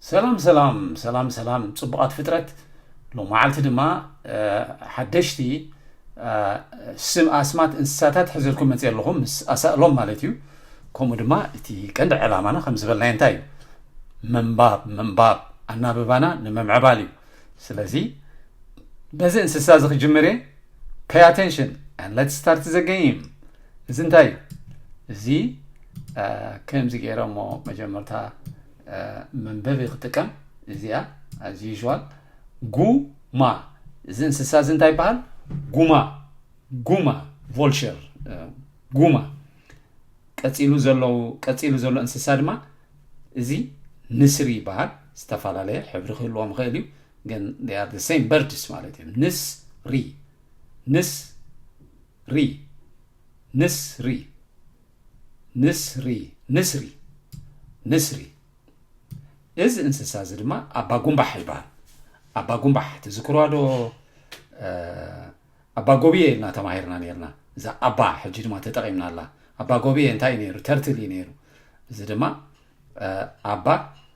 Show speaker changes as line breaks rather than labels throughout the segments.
ሰላም ሰላም ሰላም ሰላም ጽቡቓት ፍጥረት ሎማዓልቲ ድማ ሓደሽቲ ስም ኣስማት እንስሳታት ሕዘልኩም መፅ ኣለኹም ምስ ኣሳእሎም ማለት እዩ ከምኡ ድማ እቲ ቀንዲ ዕላማና ከም ዝበልናዮ እንታይ እዩ ምንባብ ምንባብ ኣናብባና ንምምዕባል እዩ ስለዚ በዚ እንስሳ እዚ ክጅምር እየ ፔይ ኣቴንሽን ን ለት ስታርት ዘገይም እዚ እንታይ እዩ እዚ ከምዚ ገይረ እሞ መጀመርታ መንበቢ ክጥቀም እዚኣ as usual ጉማ እዚ እንስሳ እዚ እንታይ ይበሃል ጉማ ጉማ ቮልቸር ጉማ ቀፂሉ ዘሎ ቀፂሉ ዘሎ እንስሳ ድማ እዚ ንስሪ ይበሃል ዝተፈላለየ ሕብሪ ክህልዎም ይኽእል እዩ ግን ር ሴም በርድስ ማለት እዩ ንስ ሪ ንስ ሪ ንስ ሪ ንስሪ፣ ንስሪ፣ ንስሪ፣ እዚ እንስሳ እዚ ድማ ኣባ ጉምባሕ ይበሃል። ኣባ ጉምባሕ ትዝክርዋ ዶ? ኣባ ጎብየ ኢልና ተማሂርና ነርና እዛ ኣባ ሕጂ ድማ ተጠቒምና ኣላ ኣባ ጎብየ እንታይ እዩ ነይሩ ተርትል እዩ ነይሩ እዚ ድማ ኣባ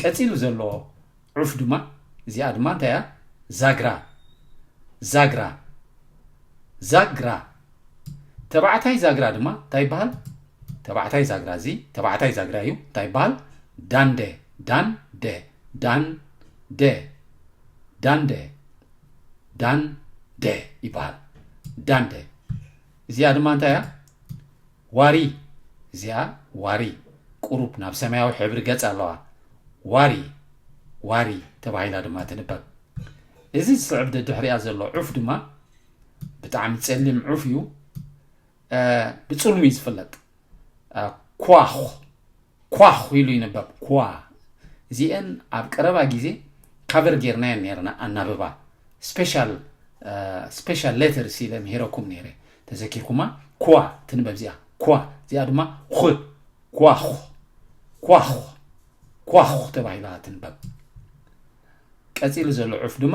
ቀጺሉ ዘሎ ዑፍ ድማ እዚኣ ድማ እንታይ እያ ዛግራ ዛግራ ዛግራ ተባዕታይ ዛግራ ድማ እንታይ ይበሃል ተባዕታይ ዛግራ እዚ ተባዕታይ ዛግራ እዩ እንታይ ይበሃል ዳንደ ዳንደ ዳንደ ዳንደ ዳንደ ይበሃል ዳንደ እዚኣ ድማ እንታይ እያ ዋሪ እዚኣ ዋሪ ቁሩብ ናብ ሰማያዊ ሕብሪ ገጽ ኣለዋ። ዋሪ፣ ዋሪ ተባሂላ ድማ ትንበብ። እዚ ዝስዕብ ደድሕሪኣ ዘሎ ዑፍ ድማ ብጣዕሚ ጸሊም ዑፍ እዩ። ብጽልሙ እዩ ዝፍለጥ። ኳኽ ኳኽ ኢሉ ይንበብ፣ ኵዋ። እዚኤን ኣብ ቀረባ ግዜ ካቨር ጌርናየን ኔርና ኣናብባ ስፔሻል ስፔሻል ሌተርስ ኢለ ምሂረኩም ኔረ ተዘኪርኩማ ኵዋ ትንበብ እዚኣ ኵዋ እዚኣ ድማ ዅ ኳዅ ኳዅ ኳዅ ተባሂላ ትንበብ ቀጺሉ ዘሎ ዑፍ ድማ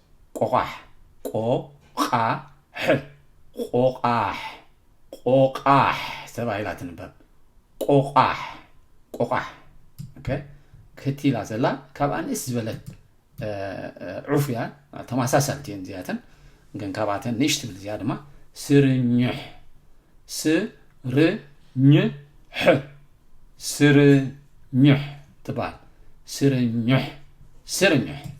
ቆቛሕ ቆቛሕ ቆቛሕ ቆቛሕ ተባሂላ ትንበብ ቆቛሕ ቆቛሕ ክቲ ኢላ ዘላ ካብ ኣንእስ ዝበለት ዑፍ እያ ተመሳሳልቲ እየን እዚኣተን ግን ካብኣተን ንእሽ ትብል እዚኣ ድማ ስርኝሕ ስርኝሕ ስርኝሕ ትበሃል ስርኝሕ ስርኝሕ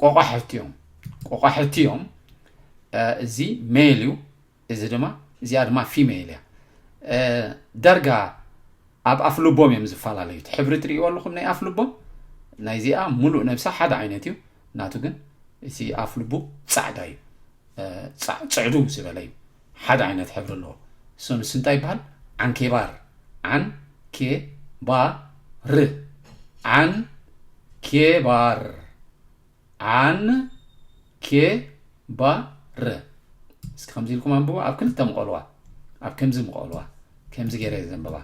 ቆቋሕቲ እዮም ቆቋሕቲ እዮም እዚ ሜል እዩ እዚ ድማ እዚኣ ድማ ፊሜል እያ ዳርጋ ኣብ ኣፍ ልቦም እዮም ዝፈላለዩ ሕብሪ ትርእይዎ ኣለኹም ናይ ኣፍ ልቦም ናይዚኣ ሙሉእ ነብሳ ሓደ ዓይነት እዩ ናቱ ግን እቲ ኣፍ ልቡ ፃዕዳ እዩ ፅዕዱ ዝበለ እዩ ሓደ ዓይነት ሕብሪ ኣለዎ እሱ ንሱ እንታይ ይበሃል ዓንኬባር ዓን ኬ ባ ር ዓን ኬ ባር ዓን ኬ ባ ር እስኪ ከምዚ ኢልኩም ኣንብቦ ኣብ ክልተ ምቐልዋ ኣብ ከምዚ ምቐልዋ ከምዚ ገይረ ዘንብባ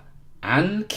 ዓን ኬ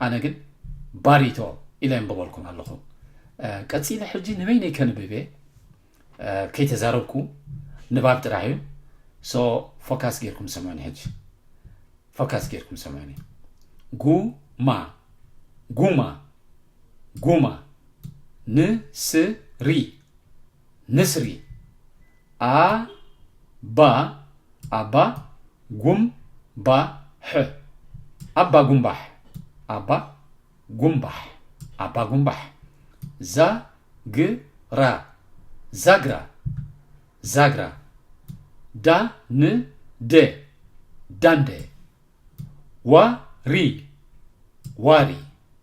ኣነ ግን ባሪቶ ኢለ የንብበልኩም ኣለኹ። ቀጺለ ሕጂ ንበይነይ ከንብብ እየ ከይተዛረብኩ ንባብ ጥራሕ እዩ። ሶ ፎካስ ጌርኩም ሰምዑኒ ሕጂ ፎካስ ጌርኩም ሰምዑኒ ጉማ ጉማ ጉማ ንስሪ ንስሪ ኣ ባ ኣባ ጉም ባ ሕ ኣባ ጉምባሕ ኣባ ጉምባሕ ኣባ ጉምባሕ ዛ ግ ራ ዛግራ ዛግራ ዳ ን ደ ዳንደ ዋ ሪ ዋሪ